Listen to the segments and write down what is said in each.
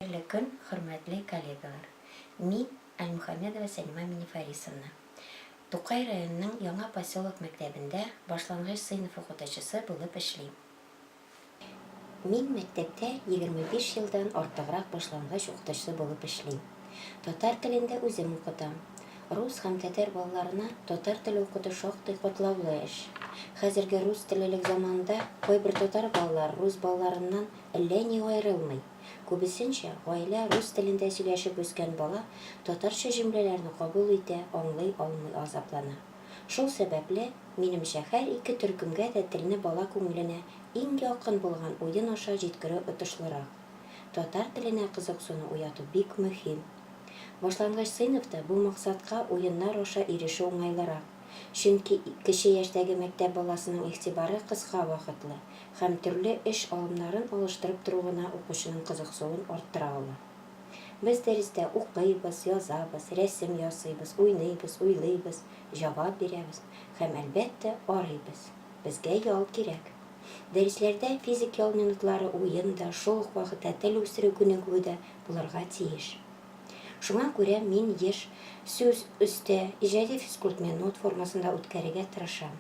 Хәерле көн, хөрмәтле коллегалар! Мин, Альмухамедова Сәлимә Минифарисовна. Тукай районының Яңа поселок мәктәбендә башлангыч сыйныф укытучысы булып эшлим. Мин мәктәптә егерме биш елдан артыграк башлангыч укытучысы булып эшлим. Татар телен дә үзем укытам. Рус һәм тәтәр балаларына татар теле укыту шактый катлаулы эш. Хәзерге рус телелек заманында кайбер татар балалары рус балаларыннан әллә ни аерылмый. Күбесенчә, гаилә рус телендә сөйләшеп үскән бала татарча җөмләләрне кабул итә, аңлый алмый азаплана. Шул сәбәпле, минемчә, һәр ике төркемгә дә телне бала күңеленә иң якын булган уен аша җиткерү отышлырак. Татар теленә кызыксыну уяту бик мөһим. Башлангыч сыйныфта бу максатка уеннар аша ирешү уңайлырак. Чөнки кече яшьтәге мәктәп баласының игътибары кыска вакытлы һәм төрле эш алымнарын алыштырып тору гына укучының кызыксуын арттыра ала. Без дәрестә укыйбыз, язабыз, рәсем ясыйбыз, уйныйбыз, уйлыйбыз, җавап бирәбез һәм, әлбәттә, арыйбыз. Безгә ял кирәк. Дәресләрдә физик ял минутлары, уен да, шул ук вакытта тел үстерү күнегүе дә булырга тиеш. Шуңа күрә мин еш сүз өстә, иҗади физкульт минут формасында үткәрергә тырышам.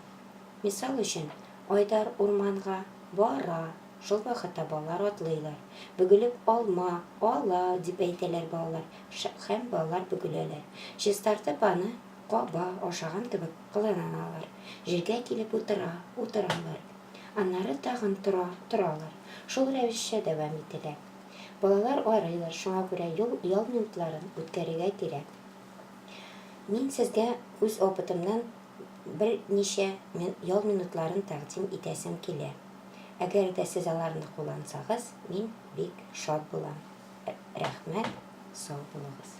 Мисал өчен, Айдар урманга бара, шул вакытта балалар атлыйлар. Бөгелеп алма ала, дип әйтәләр балалар һәм балалар бөгеләләр. Чистартып аны каба, ашаган кебек кыланалар. Җиргә килеп утыра, утыралар. Аннары тагын тора, торалар. Шул рәвешчә дәвам ителә. Балалар арыйлар, шуңа күрә юл ял минутларын үткәрергә кирәк. Мин сезгә үз опытымнан бер ничә ял минутларын тәкъдим итәсем килә. Әгәр дә сез аларны куллансагыз, мин бик шат булам. Рәхмәт, сау булыгыз.